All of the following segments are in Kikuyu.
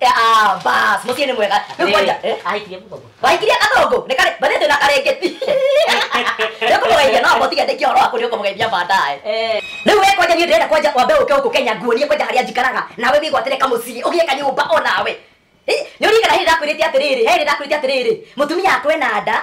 Ah, bas, mutie ni mwega. Rĩu Rĩrĩ, kwanja, eh? ahikirie mũgongo. Waikirie kathongo, ni kare, bathete na karengeti. Rĩu kũmũgeithia no motige ndĩkia ũhoro waku nĩ ũkũmũgeithia baadaye. Eh. Rĩu we kwanja niĩ ndĩrenda kwanja wambe ũke gũkũ Kenya nguonie kwanja harĩa njikaraga, nawe wĩgwatĩre kamũciĩ, ũgĩe kanyũmba o nawe. Eh, Nĩ ũrigana hĩndĩ ndakwĩrĩte atĩrĩrĩ, he hĩndĩ ndakwĩrĩte atĩrĩrĩ, mũtumia akwe na nda,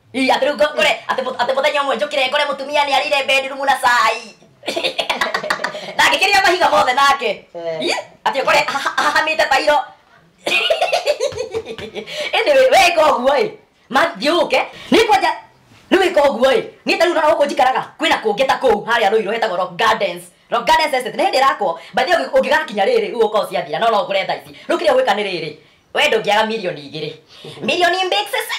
Ii, atĩ rĩu ngo- ngore atĩ mũ- atĩ mũthenya ũmwe njũkĩre ngore mũtumia nĩ arĩire bedroom na cai na ngĩkĩrĩa mahiga mothe nake Eh. Ii, atĩ ngore aha- ahahamĩte tairo ĩnĩ wĩka ũguo ĩ mathiũke nĩ kwanja nĩ wĩka ũguo ĩ niĩ tarĩu nona gũkũ njikaraga kwĩna kũngĩ ta kũu harĩa rũirũ hetagwo rock gardens rock gardens estate nĩ hĩndĩ ĩrakwo bathi ũngĩgakinya rĩrĩ rĩu ũka ũciathira no no ngũre thaa ici rĩu kĩrĩa gwĩka nĩ rĩrĩ we ndũngĩaga milioni igĩrĩ milioni mbĩksese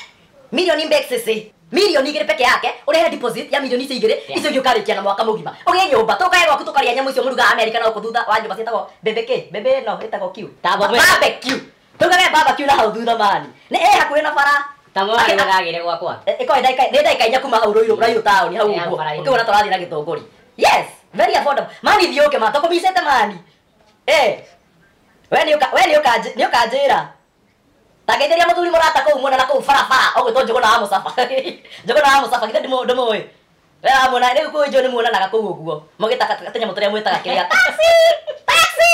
milioni mbĩksese milioni igĩrĩ peke yake ũrehe deposit ya milioni icio igĩrĩ icio ingĩ ũkarĩkia na mwaka mũgima ũgĩe nyũmba tũkae gwaku tũkarĩa nyamũ icio mũruga amerika na gũkũ thutha wa nyũmba ciĩtagwo mbembe kĩ mbembe ĩno ĩtagwo kiu Ta mbembe. barbecue tũkage barbecue na hau thutha mani nĩ ĩ hakuhĩ na bara ta mwana Akĩ- ndagagire gwakwa ĩkoe ndagĩka nĩ ndagĩka inya kuma hau rũirũ rũirũ taũni hau Ĩya ũguo bara-inĩ. ũkĩwona tũrathiĩ na gĩthũngũri yes very affordable mani thiũke ma tũkũmicĩte mani Eh, we nĩ ũka- we nĩ ũkanjĩ- nĩ ũkanjĩra tangeithĩria mũthuri mũrata kũu muona na kũu barabara ũgwĩtwo njũgũna wa mũcaba njũgũna wa mũcaba githĩ ndimũ- ndimũĩ we wamuona rĩu kũu njũĩ nĩmuonanaga kũu ũguo mũgĩtaka tũnyamũ tũrĩa mwĩtaga kĩrĩa taxi taxi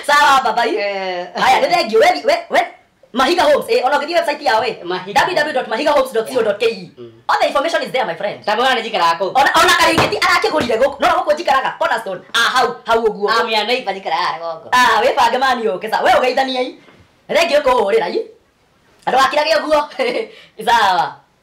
sawa babai Eh. haya nĩ thengiũ we- we- we- Mahiga Homes, eh, ona ũgĩthiĩ website yao eh, Mahiga. www.mahigahomes.co.ke. Mm. All the information is there, my friend. ta mwana njikaraga kũu Ona ona karĩngĩti arakĩgũrire gũkũ, no gũkũ njikaraga Cornerstone, ah hau hau ũguo. amĩa neiba njikaraga rũgongo Ah, wĩbange mani ũke sa, we ũgeithaniei. Rengĩ ũkũhũrĩra i. Andũ akira gĩ ũguo. Sawa.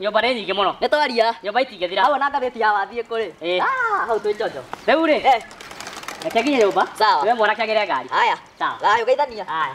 Nyũmba nĩ nyingĩ mũno. Nĩ twaria. Nyũmba itingĩthira. Hau na ngathĩti ya wathiĩ kũrĩ. Eh. Ah, hau twĩ njonjo. Rĩu rĩ. Eh. Reke nginye nyũmba. Sawa. Niwe mwanake agĩre ngari. Haya. Sawa. Haya, ũgeithania. Haya.